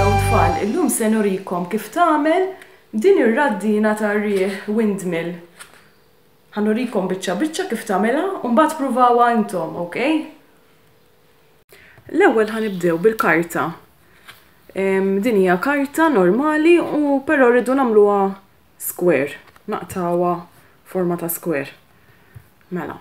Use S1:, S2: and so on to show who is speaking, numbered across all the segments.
S1: Hello tfal, illum se nurikom kif tagħmel din ir-raddina tar-riħ, windmill. Ħa nurikom biċċa biċċa kif tagħmilha u mbagħad pruvawha intom, ok? L-ewwel ħa nibdew bil-karta. Din hija karta normali u però rridu nagħmluha Square. Naqtgħuha forma ta' square. Mela.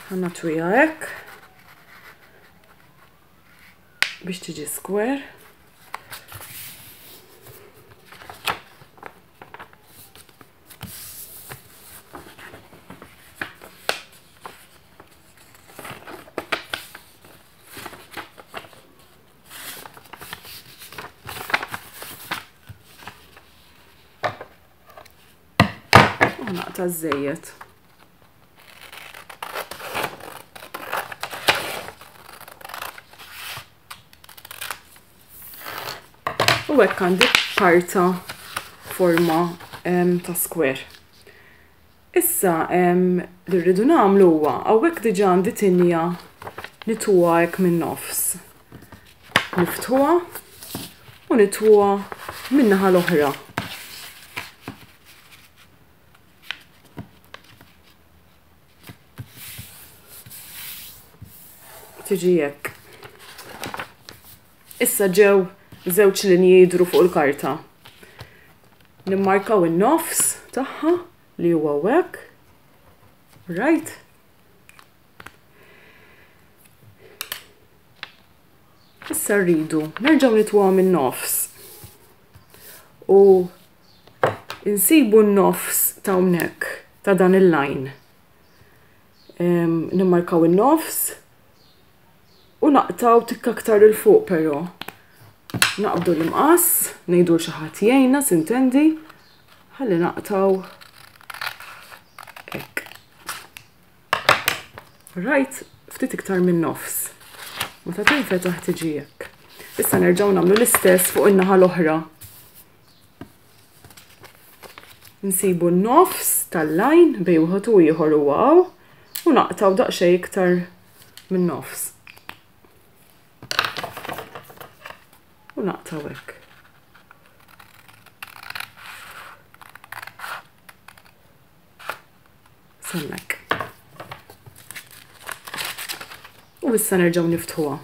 S1: Għanna twija hekk. Biex tiġi square. Naqta' żejjed. u hekk għandi karta forma ta' square. Issa, li rridu nagħmlu huwa, hawnhekk diġà għandi tinja nitwuha hekk min-nofs. Niftħuha u nitwuha min-naħa l-oħra. Tiġi hekk. Issa ġew żewġ linji jidhru fuq il-karta. Nimmarkaw in-nofs tagħha li huwa hekk. Right? Issa rridu nerġgħu nitwgħu min-nofs. U insibu n-nofs ta' hawnhekk ta' dan il-lajn. Nimmarkaw in-nofs u naqtaw tikka aktar il fuq però. Naqbdu l-imqas, ngħidu l xi ħadd jgħinna sintendi, ħalli naqtaw hekk. Rajt ftit iktar minn nofs. Meta tinfetaħ tiġi hekk. Issa nerġgħu nagħmlu l-istess fuq in-naħa l-oħra. Nsibu n-nofs tal-lajn bej wieħed u ieħor u għaw u naqtaw daqsxejn iktar min-nofs. U naqtaw hekk. Semmek. U issa nerġgħu niftħuha.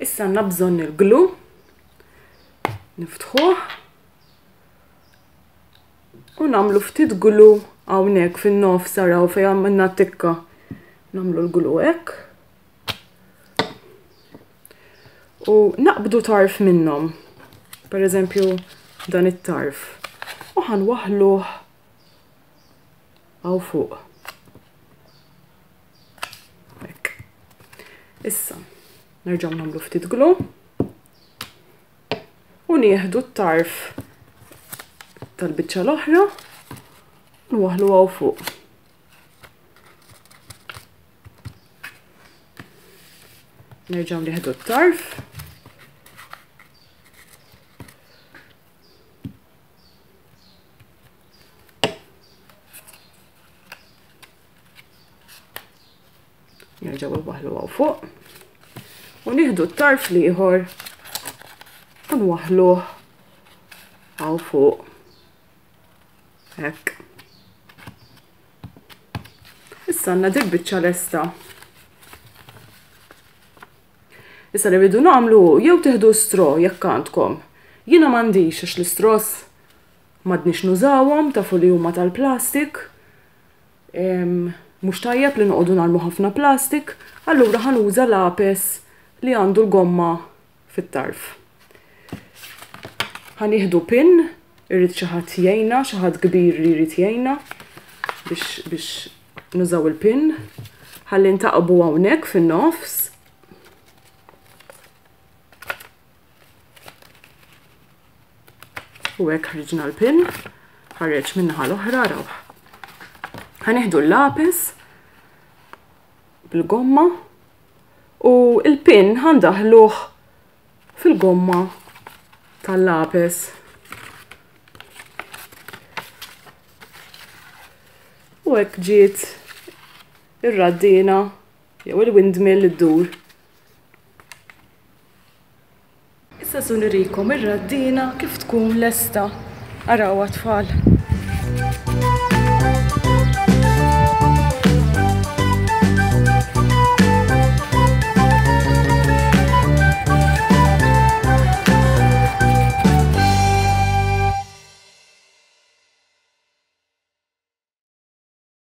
S1: Issa għandna bżonn il-glu. Niftħuh. U nagħmlu ftit glu hawnhekk fin-nofs araw fejn għamilna tikka. Nagħmlu l-glu hekk. U naqbdu tarf minnhom. Per eżempju dan it-tarf. U ħan waħluh għaw fuq. Issa, nerġaw namlu ftit glu. u nieħdu t-tarf tal-biċċa l-oħra u waħlu għaw fuq. Nerġaw nieħdu t-tarf. Nerġaw waħlu għaw fuq. U nieħdu t-tarf liħor u nwaħluh għaw fuq. Hekk. Issa għandna dik biċċa lesta. Issa li rridu nagħmlu jew teħdu stro jekk għandkom. Jiena m'għandix għax l-istros m'għadniex nużawhom tafu li huma tal-plastik. Mhux tajjeb li noqogħdu narmu ħafna plastik, allura ħa nuża lapes li għandu l-gomma fit-tarf. Ħa nieħdu pin, irrid xi ħadd jgħinna, xi ħadd kbir li jrid jgħinna biex biex nużaw il-pin. Ħalli ntaqbu hawnhekk fin-nofs. U hekk ħriġna l-pin, ħareġ minnaħa l-oħra rawh. Ħaneħdu l-lapis bil-gomma u l-pin ħandaħluh fil-gomma tal-lapis. U hekk ġiet ir-raddina jew il-windmill iddur. Issa su nurikom ir-raddina kif tkun lesta. Araw tfal.